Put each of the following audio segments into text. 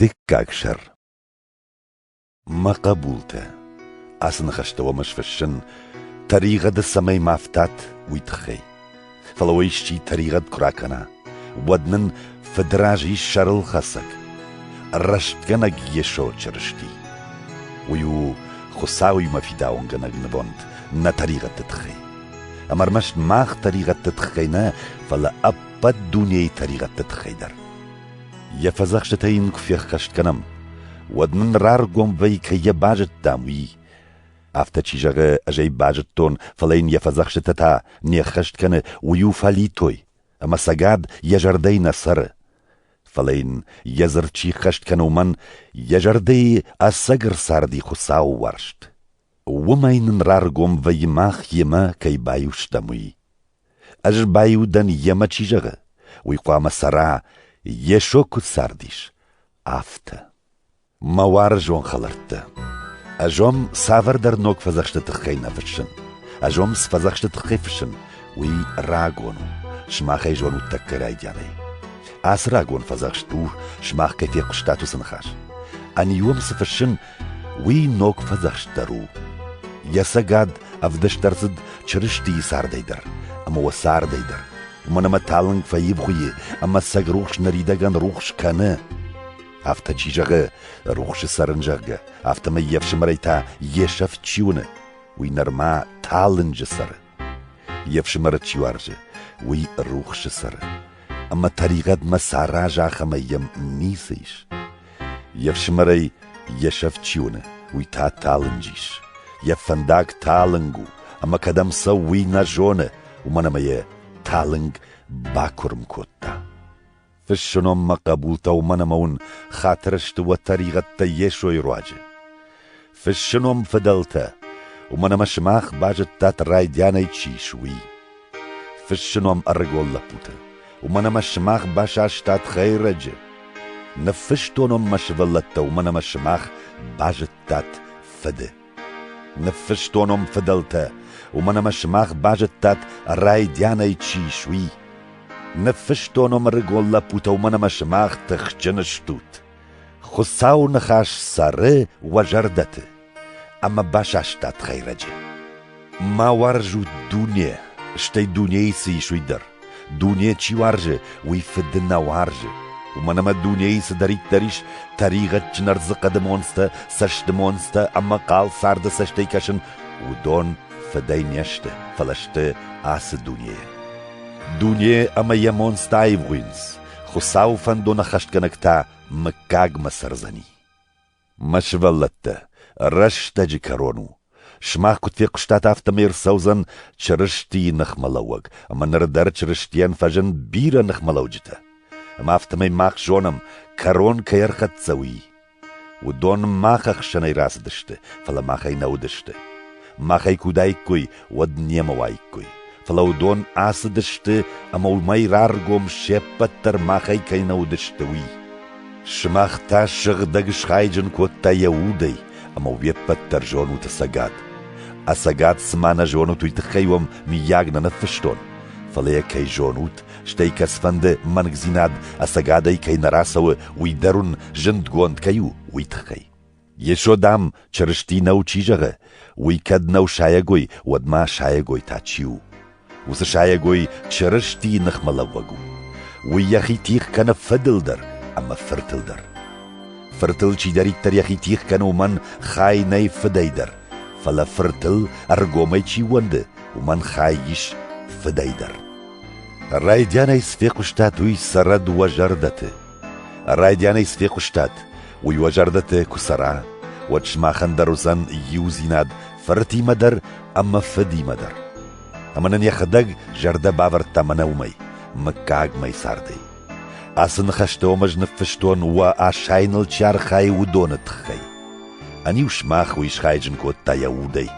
Дыккаг сӕр. Мӕ хъӕбултӕ, ацы ныхӕстӕ уӕм ӕз фыссын, тӕригъӕды цӕмӕй ма фтат, уый тыххӕй. Фӕлӕ уӕ исчи тӕригъӕд куы ракӕна, уӕд нын фыдразы ис сӕрылхӕцӕг, рӕстгӕнӕг Йесо Чырысти. Уый у Хуыцауимӕ фидауынгӕнӕг нывонд нӕ тӕригъӕдты тыххӕй. Ӕмӕ ӕрмӕст мах тӕригъӕдты тыххӕй нӕ, фӕлӕ ӕппӕт дунейы тӕригъӕдты тыххӕй дӕр. Йӕ фӕдзӕхстытӕ йын куы феххӕст кӕнӕм, уӕд нын раргом вӕй кӕй йӕ базыдтам, уый. Афтӕ чи зӕгъы, ӕз ӕй базыдтон, фӕлӕ йын йӕ фӕдзӕхстытӕ та не ххӕст кӕны, уый у фӕлитой, ӕмӕ цӕгат йӕ зӕрдӕйы нӕ цӕры. Фӕлӕ йын йӕ дзырд чи ххӕст кӕны, уымӕн йӕ зӕрдӕйы ӕцӕг ӕрцарди Хуыцауы уарзт. Уымӕй нын раргом вӕййы мах йемӕ кӕй байустам, уый. Ӕз баиу дӕн йемӕ, чи зӕгъы, уый хъуамӕ цӕра, Йесо куыд цардис, афтӕ. Мӕ уарзон хӕлӕрттӕ! Ӕз уӕм цавӕрдӕр ног фӕдзӕхсты тыххӕй нӕ фыссын. Ӕз уӕм цы фӕдзӕхсты тыххӕй фыссын, уый рагон у, сымахӕй зонут тӕккӕ райдианӕй. Ацы рагон фӕдзӕхст у, сымах кӕй фехъуыстат уыцы ныхас. Ӕниу уӕм цы фыссын, Уый ног фӕдзӕхстдӕр у. Йӕ цӕгат ӕвдыст ӕрцыд Чырыстийы цардӕй дӕр ӕмӕ уӕ цардӕй дӕр, уымӕн ӕмӕ талынг фӕивгъуыйы ӕмӕ сӕг рухс ныридӕгӕн рухс кӕны. Афтӕ чи зӕгъы, рухсы цӕрын, зӕгъгӕ, афтӕмӕй йе фсымӕрӕй та йе сӕфт чи уыны, уый нырма талынджы цӕры. Йе фсымӕры чи уарзы, уый рухсы цӕры. Ӕмӕ тӕригъӕдмӕ саразы ахӕмӕй йӕм ницы ис. Йе фсымӕрӕй йе сӕфт чи уыны, уый та талынг ис. Йӕ фӕндаг талынг у, ӕмӕ кӕдӕм цӕуы, уый нӕ зоны, уымӕн ӕмӕ йӕ талынг бакуырм кодта. Фыссынонмӕ хъӕбултӕ уымӕн ӕмӕ уын хатыр сты уӕ тӕригъӕдтӕ Йесойы руаджы. Фыссыном фыдӕлтӕ, уымӕн ӕмӕ сымах базыдтат райдианӕй чи ис, уый. Фыссыном ӕрыгон лӕппутӕ, уымӕн ӕмӕ сымах басастат хӕйрӕджы. Ныффыстонон мӕ сывӕллӕттӕ, уымӕн ӕмӕ сымах базыдтат фыды. Ныффыстонон фыдӕлтӕ, уымӕн ӕмӕ сымах базыдтат райдианӕй чи ис, уый. Ныффыстонон ӕрыгон лӕппутӕ, уымӕн ӕмӕ сымах тыхджын стут. Хуыцауы ныхас цӕры уӕ зӕрдӕты ӕмӕ басастат хӕйрӕджы. Ма уарзут дуне, стӕй дунейы цы ис, уый дӕр. Дуне чи уарзы, уый фыды нӕ уарзы. Уымӕн ӕмӕ дунейы цыдӕриддӕр ис, тӕригъӕдджын ӕрдзы хъӕды монцтӕ, цӕсты монцтӕ ӕмӕ хъал царды цӕстӕй кӕсын, уыдон фыдӕй не сты, фӕлӕ сты ацы дунейӕ. Дуне ӕмӕ йӕ монцтӕ аивгъуыйынц, Хуыцауы фӕндоны хӕстгӕнӕг та мыггагмӕ цӕрдзӕни. Мӕ сывӕллӕттӕ, рӕстӕджы кӕрон у. Сымах куыд фехъуыстат, афтӕмӕй ӕрцӕудзӕн Чырыстийы ныхмӕлӕууӕг, ӕмӕ ныр дӕр Чырыстийӕн фӕзын бирӕ ныхмӕлӕуджытӕ. Ӕмӕ афтӕмӕй мах зонӕм, кӕрон кӕй ӕрхӕццӕ уый. Уыдон мах ӕхсӕнӕй рацыдысты, фӕлӕ махӕй нӕ уыдысты. Махӕй куы уыдаиккой, уӕд немӕ уаиккой. Фӕлӕ уыдон ацыдысты, ӕмӕ уымӕй раргом се ппӕт дӕр махӕй кӕй нӕ уыдысты, уый. Сымах та сыгъдӕг схайджын кодта йӕ удӕй, ӕмӕ уе ппӕт дӕр зонут ӕцӕгад. Ӕцӕгад цыма нӕ зонут, уый тыххӕй уӕм, мыййаг, нӕ ныффыстон? Фӕлӕ йӕ кӕй зонут, стӕй кӕцфӕнды мӕнгдзинад ӕцӕгадӕй кӕй нӕ рацӕуы, уый дӕр уын зындгонд кӕй у, уый тыххӕй. Йесо, дам, Чырысти нӕу, чи зӕгъы, уый кӕд нӕу сайӕгой, уӕд ма сайӕгой та чи у? Уыцы сайӕгой Чырыстийы ныхмӕлӕууӕг у. Уый йӕхи тих кӕны фыдыл дӕр ӕмӕ фыртыл дӕр. Фыртыл чидӕриддӕр йӕхи тих кӕны, уымӕн хай нӕй фыдӕй дӕр, фӕлӕ фыртыл ӕргомӕй чи ууӕнды, уымӕн хай ис фыдӕй дӕр. Райдианӕй цы фехъуыстат, уый цӕрӕд уӕ зӕрдӕты. Райдианӕй цы фехъуыстат, уый уӕ зӕрдӕты куы цӕра, уӕд сымахӕн дӕр уыдзӕн иудзинад фыртимӕ дӕр ӕмӕ фыдимӕ дӕр. Ӕмӕ нын йӕхӕдӕг зӕрдӕ бавӕрдта мӕнӕ уымӕй, мыггаг мӕй цардӕй. Ацы ныхӕстӕ уӕм ӕз ныффыстон, уӕ асайыныл чи архайы, уыдоны тыххӕй. Ӕниу сымах уый схайджын кодта йӕ удӕй.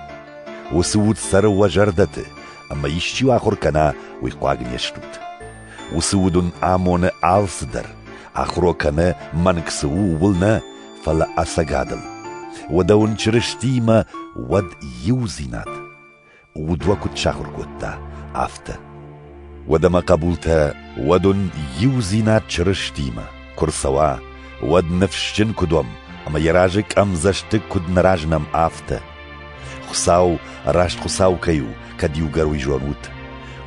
Уыцы уд цӕры уӕ зӕрдӕты, ӕмӕ исчи уы ахуыр кӕна, уый хъуаг не стут. Уыцы уд уын амоны алцыдӕр, ахуро кӕны, мӕнг цы у, ууыл нӕ, фӕлӕ ӕцӕгадыл. Уӕдӕ уын Чырыстиимӕ уӕд иудзинад. Уд уӕ куыд сахуыр кодта, афтӕ. Уӕдӕ мӕ хъӕбултӕ, уӕд уын иудзинад Чырыстиимӕ куы рцӕуа, уӕд ныфсджын куыд уӕм, ӕмӕ йӕ разы къӕмдзӕстыг куыд нӕ разынӕм, афтӕ. Хуыцау раст Хуыцау кӕй у, кӕд иугӕр ут,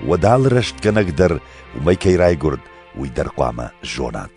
уӕд алы рӕстгӕнӕг дӕр уымӕй кӕй райгуырд, уый дӕр хъуамӕ зонат.